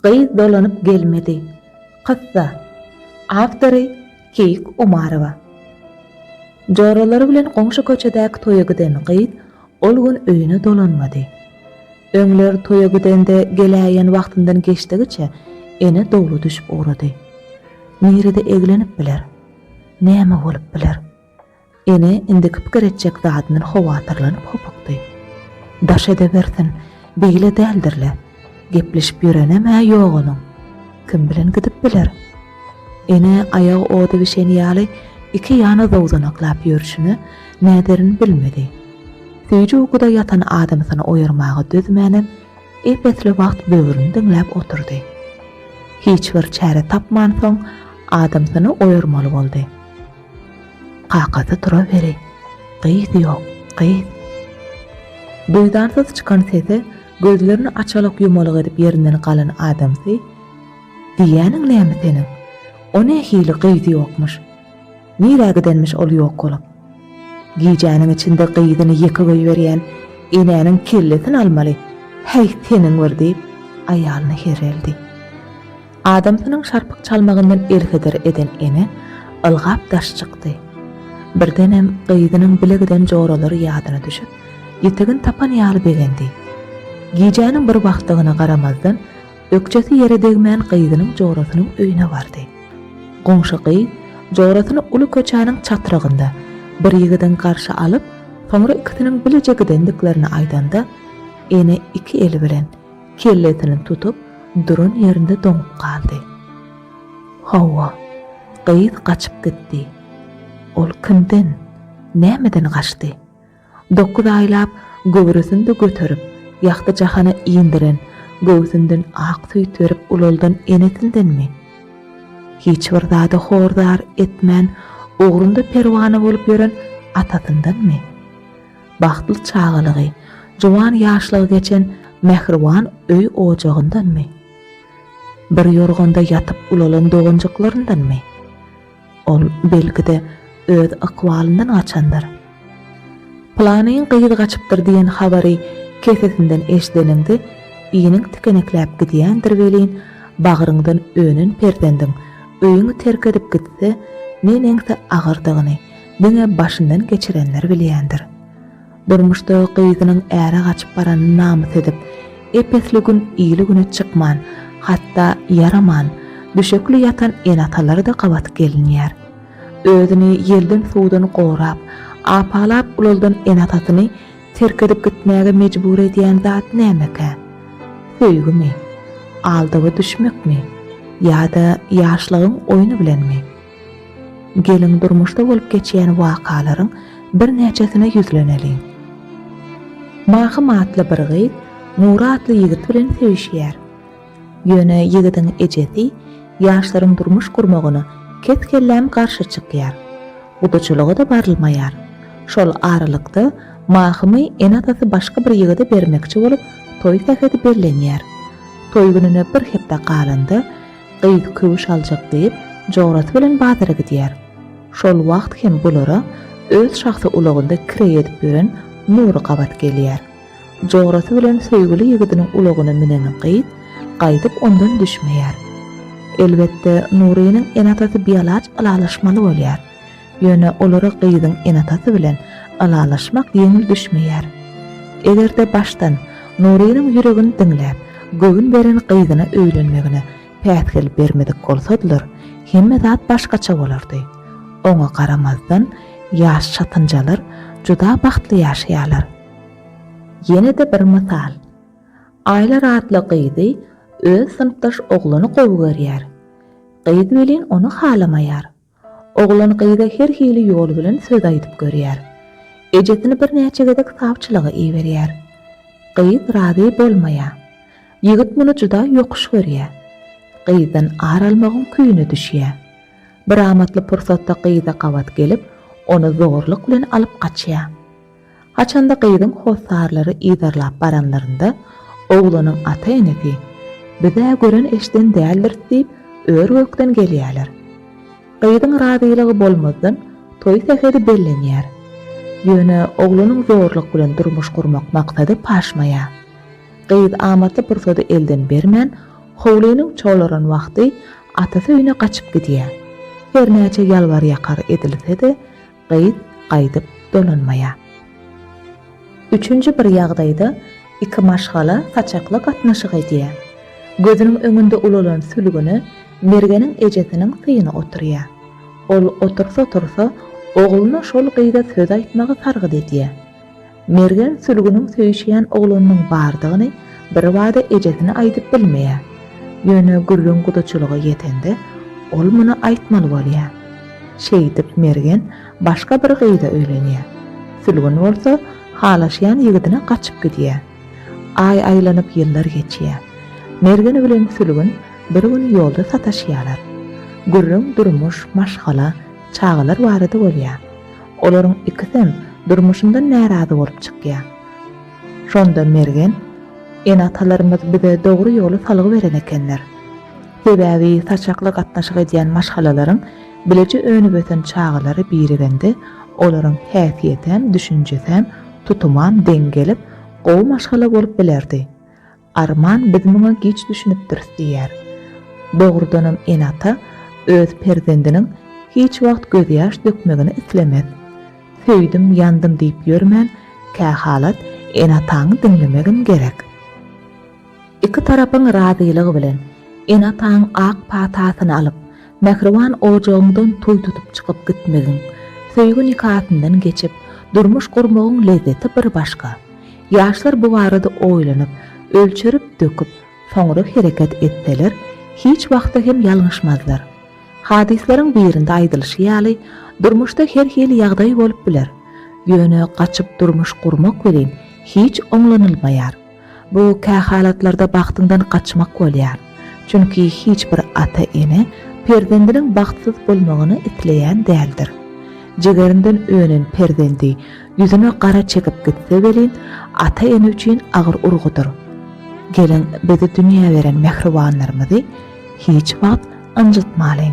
Gyz dolanyp gelmedi. Kyssa. Awtory, Keýik Umarowa. Joralary bilen goňşy köçedäki toýa giden gyz ol gün öýüne dolanmady. Öňler toýa gidende geläýen wagtyndan geçdigiçe ene dowly düşüp ugrady. Nirede eglenip biler? Näme bolup biler? Ene indiki pikir etjek zadyndan howatyrlanyp hopukdy. Daş edewersin, beýle däldir-le. Gepleşip ýörenem-ä ýok onuň. Kim bilen gidip biler? Ene aýagy oda bişen ýaly iki ýana zowzanaklap ýörşüne näderini bilmedi. Süýji ukuda ýatan adamsyny oýarmaga dözmänem, ep-esli wagt böwrüni diňläp oturdy. Hiç bir çäre tapmansoň, adamsyny oýarmaly boldy. Kakasy turaweri, Gyz ýok, gyz. Duýdansyz çykan sese gözlerini açalyk-ýumalyk edip ýerinden galan adamsy, Diýýäniň näme seniň? O nähili gyz ýokmuş? Nirä gidenmiş ol ýok bolup? Gijäniň içinde gyzyny ýeke goýberýän enäniň kellesini almaly, häý seniň bir diýip, aýalyna herreldi. Adamsynyň şarpyk çalmagyndan ertedir eden ene ylgap daş çykdy. Birdenem gyzynyň bile giden joralary ýadyna düşüp, ýitigin tapan ýaly begendi. Gijäniň bir wagtdygyna garamazdan, ökjesi ýere degmän gyzynyň jorasynyň öýüne bardy. Goňşy gyz jorasyny uly köçäniň çatrygynda bir ýigidiň garşy alyp, soňra ikisiniň bileje gidendiklerini aýdanda, ene iki eli bilen Kellesini tutup duran ýerinde doňup galdy. Hawa, gyz gaçyp gitdi. Ol kimden, nämeden gaçdy? Dokuz aýlap göwresini-de göterip, ýagty jahana indiren, göwsünden ak süýt berip ulaldan enesindenmi? Hiç bir zada hor-zar etmän, ugrunda perwana bolup ýören atasyndanmy? Bagtly çagalygy, juwan ýaşlygy geçen mähriban öý-ojagyndanmy? Bir ýorganda ýatyp-ulalan doganjyklaryndanmy? Ol, belki-de, öz ykbalyndan gaçandyr. Pylanyň gyz gaçypdyr diýen habary kesesinden eşideninde iniň tikenekläp gidýändir welin, bagryňdan önen perzendiň öýüňi terk edip gitse, ne neňse agyrdygyny, diňe başyndan geçirenler bilýändir. Durmuşda gyzynyň äre gaçyp baranyny namys edip, ep-esli gün ili-güne çykman, hatda ýaraman, düşekli ýatan ene-atalar-da gabat gelinýär. Özüni ýelden-suwdan gorap, apalap ulaldan ene-atasyny terk edip gitmäge mejbur edýän zat nämekä? Söýgimi? Aldawa düşmekmi? Ýa-da ýaşlygyň oýny bilenmi? Geliň, durmuşda bolup geçýän wakalaryň birnäçesine ýüzleneliň. Mahym atly bir gyz Nury atly ýigit bilen söýüşýär. Ýöne ýigidiň ejesi ýaşlaryň durmuş gurmagyna kes-kelläm garşy çykýar. Gudaçylyga-da barylmaýar. Şol aralykda Mahymy ene-atasy başga bir ýigide bermekçi bolup, toý sähedi bellenýär. Toý gününe bir hepde galanda, Gyz köwüş aljak diýip, jograsy bilen bazara gidýär. Şol wagt hem bulara öz şahsy ulagynda kireý edip ýören Nury gabat gelýär. Jograsy bilen söýgüli ýigidiniň ulagyna münen gyz gaýdyp ondan düşmeýär. Elbetde, Nurynyň ene-atasy bialaç ylalaşmaly bolýar. Ýöne olara gyzyň enatasy bilen ylalaşmak ýeňil düşmeýär. Eger-de başdan Nurynyň ýüregini diňläp, göwün beren gyzyna öýlenmegine päsgel bermedik bolsadylar, hemme zat başgaça bolardy. Oňa garamazdan, ýaş çatynjalar juda bagtly ýaşaýarlar. Ýene-de bir mysal. Aýlar atly gyzy öz synpdaş oglany gowy görýär. Gyz welin ony halamaýar. Oglan gyza her hili ýol bilen söz aýdyp görýär. Ejesini birnäçe gezek sawçylyga iberýär. Gyz razy bolmaýar. Ýigit muny juda ýokuş görýär. Gyzdan ar almagyň küýüne düşýär. Bir amatly pursatda gyza gabat gelip, ony zorluk bilen alyp gaçýar. Haçanda gyzyň hossarlary yzarlap baranlarynda, oglanyň ata-enesi, Biz-ä gören-eşden däldiris diýip, ör-gökden gelýärler. Gyzyň razylygy bolmazdan, toý sähedi bellenýär. Ýöne oglanyň zorluk bilen durmuş gurmak maksady paşmaýar. Gyz amatly pursady elden bermän, howlynyň çolaran wagty atasy öýüne gaçyp gidýär. Hernäçe ýalbar-ýakar edilse-de, gyz gaýdyp dolanmaýar. Üçünji bir ýagdaýda iki maşgala saçakly gatnaşyk edýär. Gözüniň öňünde ulalan sülgüne Mergeniň ejesiniň syny oturýar. Ol otursa-otursa, ogluna şol gyza söz aýtmagy sargyt edýär. Mergen sülgüniň söýüşýän oglanynyň bardygyny birbada ejesine aýdyp bilmeýär. Ýöne gürrüň gudaçylyga ýetende, ol muny aýtmaly bolýar. Şeýdip Mergen başga bir gyza öýlenýär. Sülgün bolsa halaşýan ýigidine gaçyp gidýär. Aý aýlanyp ýyllar geçýär. Mergen bilen sülgün bir gün ýolda sataşýarlar. Gürrüň durmuş, maşgala, çagalar barada bolýar. Olaryň ikisem durmuşyndan närazy bolup çykýa. Şonda Mergen, Ene-atalarymyz bize dogry ýoly salgy beren ekenler. Sebäbi saçakly gatnaşyk edýän maşgalalaryň bileje önüp-ösen çagalary birigende olaryň häsiýetem, düşünjesem, tutumam deň gelip, gowy maşgala bolup bilerdi. Arman biz muňa giç düşünipdiris diýýär. Dogrudanam ene-ata öz perzendiniň hiç wagt gözýaş dökmegini islemez. Söýdüm, ýandym diýip ýörmän, kähalat ene-ataňy diňlemegem gerek. Iki tarapyň razylygy bilen, ene-ataň ak patasyny alyp, mähriban ojagyňdan toý tutup çykyp gitmegiň, söýgi nikasyndan geçip, durmuş gurmagyň lezzeti bir başga. Ýaşlar bu barada oýlanyp, ölçerip-döküp, soňra hereket etseler, hiç wagtda hem ýalňyşmazlar. Hadyslaryň birinde aýdylyşy ýaly, durmuşda her hili ýagdaý bolup biler. Ýöne gaçyp durmuş gurmak welin, hiç oňlanylmaýar. Bu kähalatlarda bagtyňdan gaçmak bolýar. Çünki hiç bir ata-ene perzendiniň bagtsyz bolmagyny isleýän däldir. Jigerinden önen perzendi Ýüzüne gara çekip gitse welin, ata-ene üçin agyr urgudyr. Geliň, bizi dünýä beren mähribanlarymyzy hiç wagt ynjytmalyň.